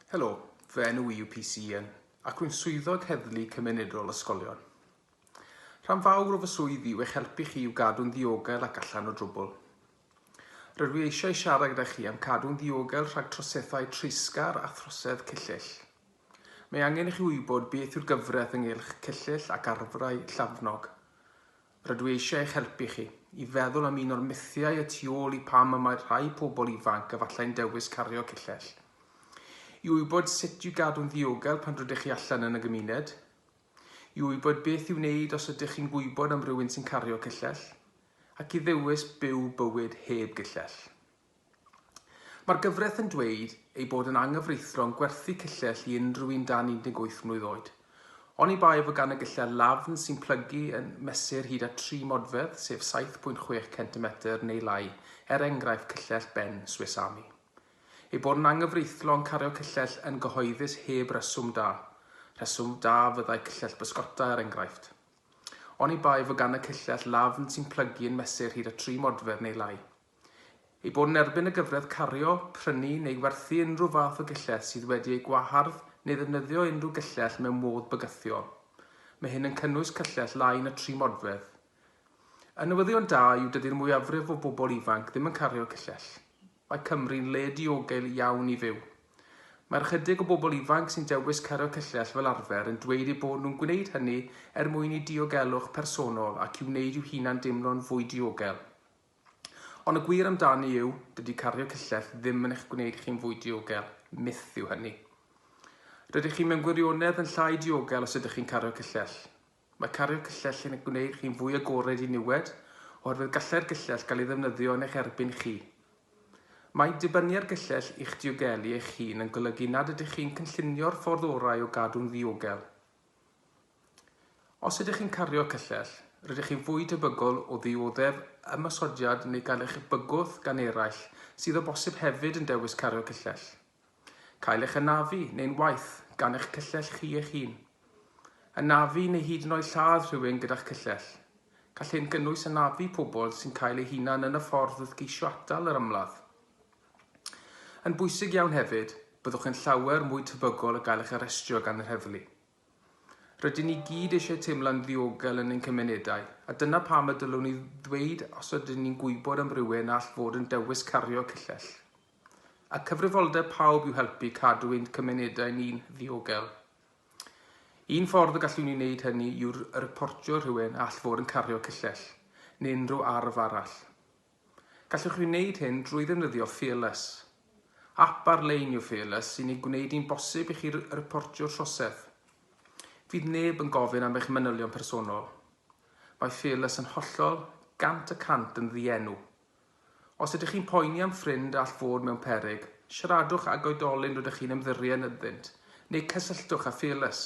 Helo, fy enw i yw PC Ian, ac rwy'n Swyddog Heddlu Cymunedol Ysgolion. Rhan fawr o fy swydd i yw eich helpu chi i'w gadw'n ddiogel ac allan o drwbl. Rydw i eisiau siarad gyda chi am cadw'n ddiogel rhag troseddau treisgar a throsedd cyllyll. Mae angen i chi wybod beth yw'r gyfraith ynghylch cyllyll ac arfrau llafnog. Rydw i eisiau eich helpu chi i feddwl am un o'r mythiau y tu ôl i pam y mae rhai pobl ifanc efallai'n dewis cario cyllell. I wybod sut i'w gadw'n ddiogel pan rydych chi allan yn y gymuned. I wybod beth i'w wneud os ydych chi'n gwybod am rywun sy'n cario cyllell. Ac i ddewis byw bywyd heb gyllell. Mae'r gyfraith yn dweud ei bod yn anghyfreithlon gwerthu cyllell i unrhyw un dan 18 mlwydd oed. Oni bai fod gan y gyllell lafn sy'n plygu yn mesur hyd at tri modfedd, sef 7.6 centimetr neu lai, er enghraifft cyllell Ben Swiss Army. Ei bod yn anghyfreithlon cario cyllell yn gyhoeddus heb reswm da. Rheswm da fyddai cyllell bysgota er enghraifft. Oni bai fod gan y cyllell lafn sy'n plygu yn mesur hyd at tri modfedd neu lai. Ei bod yn erbyn y gyfradd cario, prynu neu werthu unrhyw fath o gyllell sydd wedi ei gwahardd neu ddefnyddio unrhyw gyllell mewn modd bygythiol. Mae hyn yn cynnwys cyllell lai na tri modfedd. Y newyddion da yw dydy'r mwyafrif o bobl ifanc ddim yn cario cyllell. Mae Cymru'n le diogel iawn i fyw. Mae'r ychydig o bobl ifanc sy'n dewis cario cyllell fel arfer yn dweud eu bod nhw'n gwneud hynny er mwyn eu diogelwch personol ac i wneud i'w hunan deimlo'n fwy diogel. Ond y gwir amdani yw, dydy cardio cyllell ddim yn eich gwneud chi'n fwy diogel, myth yw hynny. Rydych chi mewn gwirionedd yn llai diogel os ydych chi'n cario cyllell. Mae cario cyllell yn gwneud chi'n fwy agored i niwed, oherwydd gallai'r gyllell gael ei ddefnyddio yn eich erbyn chi. Mae dibynnu ar gyllell i'ch diogelu eich hun yn golygu nad ydych chi'n cynllunio'r ffordd orau o gadw'n ddiogel. Os ydych chi'n cario cyllell, rydych chi'n fwy tebygol o ddioddef ymosodiad neu gael eich bygwth gan eraill sydd o bosib hefyd yn dewis cario cyllell. Cael eich anafu neu'n waeth gan eich cyllell chi eich hun. Anafu neu hyd yn oed lladd rhywun gyda'ch cyllell. Gall hyn gynnwys anafu pobl sy'n cael eu hunain yn y ffordd wrth geisio atal yr ymladd. Yn bwysig iawn hefyd, byddwch yn llawer mwy tebygol o gael eich arestio gan yr heddlu. Rydyn ni gyd eisiau teimlo'n ddiogel yn ein cymunedau, a dyna pam y dylwn ni ddweud os ydyn ni'n gwybod am rywun all fod yn dewis cario cyllell. A cyfrifoldeb pawb yw helpu cadw ein cymunedau ni'n ddiogel. Un ffordd y gallwn ni wneud hynny yw'r reportio rhywun all fod yn cario cyllell, neu unrhyw arf arall. Gallwch chi wneud hyn drwy ddefnyddio Fearless. Ap ar-lein yw Fearless sy'n ei gwneud hi'n bosib i chi riportio'r trosedd. Fydd neb yn gofyn am eich manylion personol. Mae Fearless yn hollol, gant y cant yn ddienw. Os ydych chi'n poeni am ffrind all fod mewn peryg, siaradwch ag oedolyn rydych chi'n ymddiried ynddynt, neu cysylltwch â Fearless.